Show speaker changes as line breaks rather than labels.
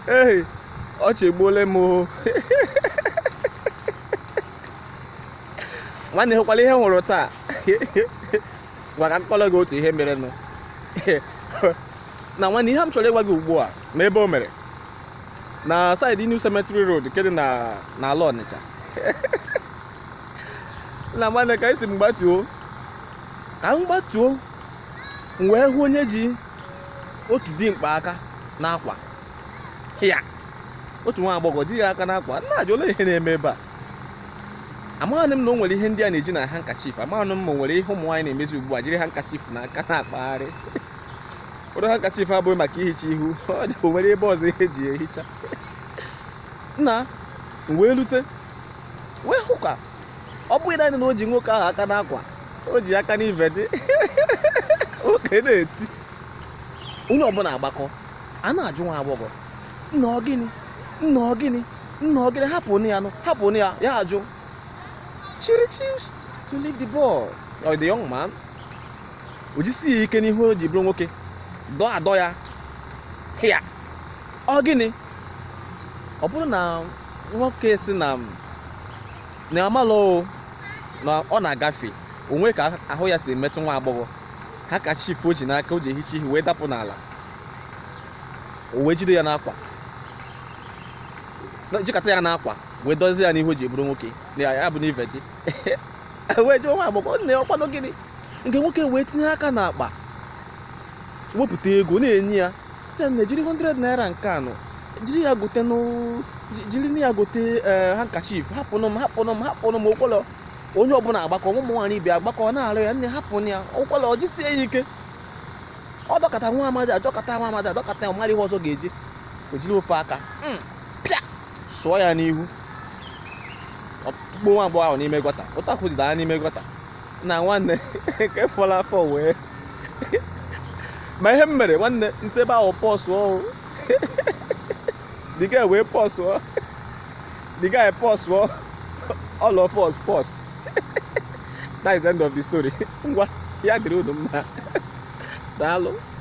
ee ọchị egbuole m o nwanne hụkwala ihe m hụrụ taa ngwa ka m kọọrọ gị otu ihe merenụ nna nwanne ihe m chọrọ ịgwa gị ugbu a ma ebe o mere na side New Cemetery Road nke dị n'ala Ọnịcha nna nwanne ka esi m gbatuo ka m gbatuo m wee hụ onye ji otu dimkpa aka n'akwa ya otu nwa agbọghọ ji ya aka n'akwa m na-ajụ olee ihe na-eme ebe a amaghị m na o nwere ihe ndị a na-eji na handkerchief amaghị m ma o nwere ihe ụmụ nwaanyị na-emezi ugbu a jiri handkerchief n'aka na-akpagharị ụfọdụ handkerchief abụghị maka ihicha ihu ọ dị o nwere ebe ọzọ ihe e ji ehicha nna m wee rute wee hụ ka ọ bụghị naanị na o ji nwoke ahụ aka n'akwa o ji aka n'ive dị nwoke na-eti onye ọbụla agbakọ a na-ajụ nwa agbọghọ nna ọ gịnị nna ọ gịnị nna ọ gịnị hapụ ya nụ hapụ ya ya ajụ she refused to leave the ball or the young man o jisie ya ike n'ihe o ji bụrụ nwoke dọọ adọ ya ya ọ gịnị ọ bụrụ na nwoke si na na amalụ na ọ na-agafe o nwe ka ahụ ya si metụ nwa agbọghọ handkerchief o ji n'aka o ji ehicha ihe wee dapụ n'ala o wee jide ya n'akwa jikọta ya n'akwa wee dọzie ya n'ihe o ji bụrụ nwoke ya bụ n'ive gị wee jụọ nwa agbọghọ nne ọ kwanụ gịnị nke nwoke wee tinye aka n'akpa wepụta ego na-enye ya sị ya nne jiri 100 naira nke a nụ jiri ya gotenụ ji- jirinụ ya gote ee handkerchief hapụnụ m hapụnụ m hapụnụ m o kwelọ onye ọbụla agbakọ ụmụ nwaanyị ibe agbakọ na-arịọ ya nne hapụnụ ya o kwelọ ọ jisie ya ike ọ dọkọta nwa amadi adọkọta nwa amadi adọkọta ya ọ marọ ihe ọzọ ga-eji o jiri ofu aka mm, pịa sụọ ya n'ihu ọ tụkpuo nwa agbọghọ ahụ n'ime gọta ụtakwu dịda ya n'ime gọta nna nwanne nke fọrọ afọ wee ma ihe m mere nwanne m si ebe ahụ pọsụọ o the guy wee pọsụọ the guy pọsụọ all of us post that is the end of the story ngwa ya dịrị unu mma daalụ